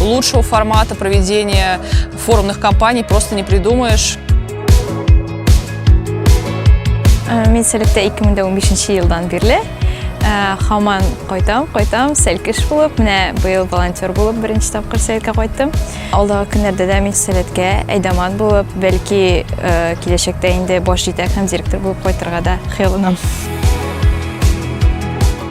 Лучшего формата проведения форумных кампаний просто не придумаешь. Э, Мин сәләттә 2015 елдан бирле хаман э, кайтам, кайтам, сәлкеш булып, менә быел волонтер булып беренче тапкыр сәлкә кайттым. Алдагы көннәрдә дә мин сәләткә әйдаман булып, бәлки э, киләчәктә инде баш җитәк һәм директор булып кайтырга да хыялланам.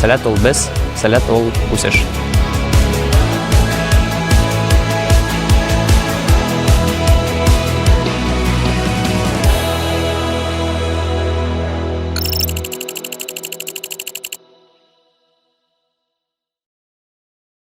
Сәләт ул без, сәләт ул үсеш.